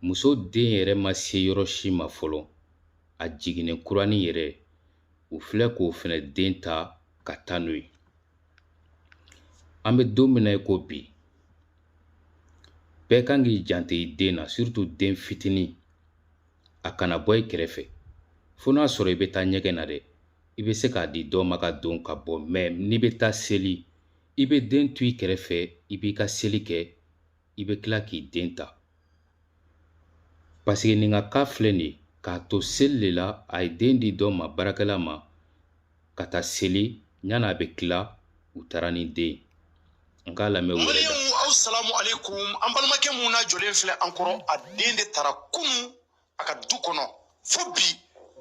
muso den yɛrɛ ma se yɔrɔ si ma fɔlɔ a jiginnen kuranin yɛrɛ u filɛ k'o fɛnɛ den ta ka taa n'o ye an bɛ don min na i ko bi bɛɛ kan k'i janto i den na surtout den fitinin a kana bɔ i kɛrɛfɛ fo n'a sɔrɔ i bɛ taa ɲɛgɛn na dɛ i bɛ se k'a di dɔ ma ka don ka bɔ mɛ n'i bɛ taa seli i bɛ den to i kɛrɛfɛ i b'i ka seli kɛ i bɛ tila k'i den ta paseke nin ka cas filɛ nin ye k'a to seli de la a ye den di dɔ ma baarakɛla ma ka taa seli yanni a bɛ tila u taara ni den ye n k'a lamɛn u yɛrɛ da aw salamu aleykum an balimakɛ mun na jɔlen filɛ an kɔrɔ a den de tara kunun a ka du kɔnɔ fo bi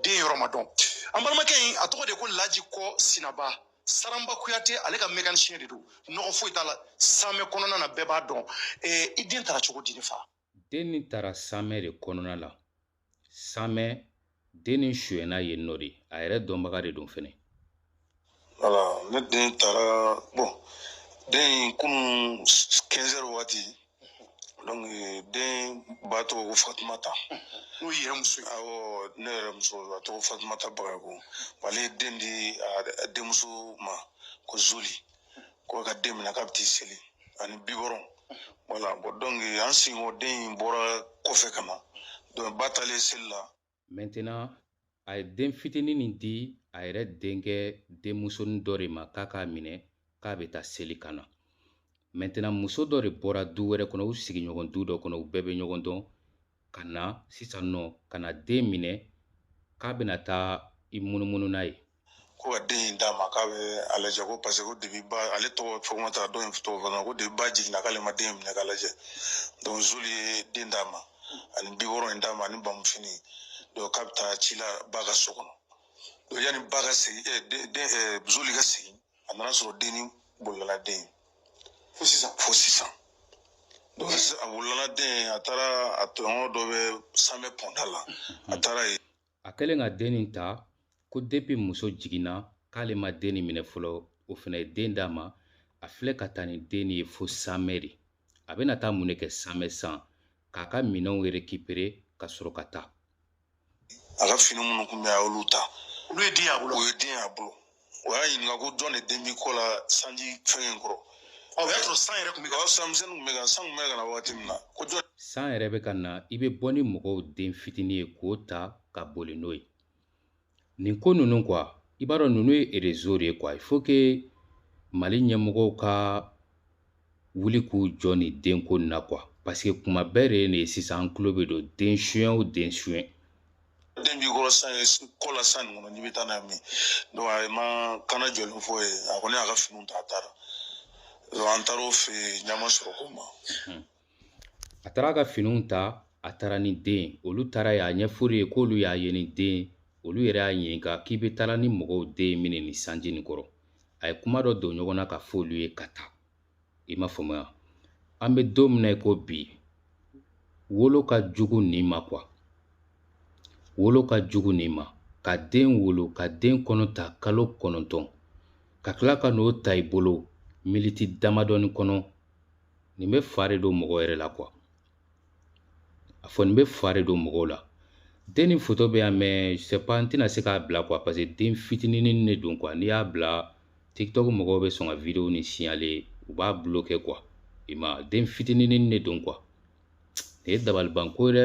den yɔrɔ ma dɔn an balimakɛ in a tɔgɔ de ko laji kɔ sinaba saranba kuyate ale ka mɛkanisiyɛn de don nɔgɔ foyi t'a la samɛ kɔnɔna na bɛɛ b'a dɔn i den tara cogo di ne fa den nin tara samɛ de kɔnɔna la samɛ den nin sonyɛna yen nɔ de a yɛrɛ dɔnbaga de don fɛnɛ ne den tara bɔn den in kunun kɛnzɛri waati donc den ba tɔgɔ ko fatumata n'o yɛrɛ muso ye awɔ ne yɛrɛ muso a tɔgɔ fatumata bagayoko ale ye den di a denmuso ma ko zuli ko ka den minɛ k'a bɛ t'i seli ani bibɔrɔn wala donc an sigiɲɔgɔn den in bɔra kɔfɛ ka na donc ba taalen seli la maintenant a ye den fitinin nin di a yɛrɛ denkɛ denmusonin dɔ de ma k'a k'a minɛ k'a bɛ taa seli ka na maintenant muso dɔ de bɔra du wɛrɛ kɔnɔ u sigiɲɔgɔn du dɔ kɔnɔ u bɛɛ bɛ ɲɔgɔn dɔn ka na sisan nɔ ka na den minɛ k'a bɛna taa i munumunu n'a ye ko ka den in d'a ma k'a bɛ a lajɛ ko paseke ko depi ba ale tɔgɔ fatumata dɔ in tɔgɔ fana ko depi ba jiginna k'ale ma den minɛ k'a lajɛ donc zuli ye den d'a ma ani bibɔrɔn in d'a ma ani bamufini donc k'a bɛ taa ci la ba ka so kɔnɔ donc yanni ba ka segin den den zuli ka segin a nana sɔrɔ den nin bolila den fo sisan fo sisan a bolila den a taara a tɔɲɔgɔn dɔ bɛ samɛ pɔnda la a taara yen a kɛlen ka den nin ta ko depi muso jiginna k'ale ma den nin minɛ fɔlɔ o fɛnɛ ye den d'a ma a filɛ ka taa ni den nin ye fo samɛ de a bɛna taa mun de kɛ samɛ san k'a ka minɛnw rekipere ka sɔrɔ ka taa a ka fini minnu kun bɛ a y'olu ta olu ye den y'a bolo o ye den y'a bolo o y'a ɲininka ko jɔn de den b'i kɔ la sanji fɛn in kɔrɔ o y'a sɔrɔ san yɛrɛ kun bɛ ka san misɛnnin kun bɛ ka san kun bɛ ka na waati min na ko jɔn san yɛrɛ bɛ ka na i bɛ bɔ ni mɔgɔw den fitinin ye k'o ta ka boli n'o ye nin ko ninnu kuwa i b'a dɔn ninnu ye erezo de ye kuwa il faut que mali ɲɛmɔgɔw ka wuli k'u jɔ nin denko in na kuwa paseke kuma bɛɛ de ye nin ye sisan an tulo bɛ don den suɲɛ o den suɲɛ den b'i kɔrɔ san ye kɔ la san nin kɔnɔ n'i bɛ taa n'a ye min donc a ma kuma jɛlen fɔ u ye a kɔni y'a ka finiw ta a taara donc an taara o fɛ yen ɲama sɔrɔ ko ma a taara a ka finiw ta a taara ni den olu taara y'a ɲɛfɔ olu ye k'olu y'a ye ni den olu yɛrɛ y'a ɲininka k'i bɛ taala ni mɔgɔw den ye min nin sanji nin kɔrɔ a ye kuma dɔ don ɲɔgɔn na k'a fɔ olu ye ka taa i m'a faamuya an bɛ don min na i ko bi wolo ka jugu nin ma kuwa wolo ka jugu nin ma ka den wolo ka den kɔnɔ ta kalo kɔnɔntɔn ka tila ka n'o ta i bolo miniti damadɔni kɔnɔ nin bɛ fa de don mɔgɔ yɛrɛ la kuwa a fɔ nin bɛ fa de don mɔgɔw la den nin foto bɛ yan mɛ sɛpa n tɛna se k'a bila kuwa paseke den fitininini de don kuwa n'i y'a bila tiktok mɔgɔw bɛ sɔn ka videwo nin siɲale u b'a bulokɛ kuwa i ma den fitininini de don kuwa nin ye dabalibanko ye dɛ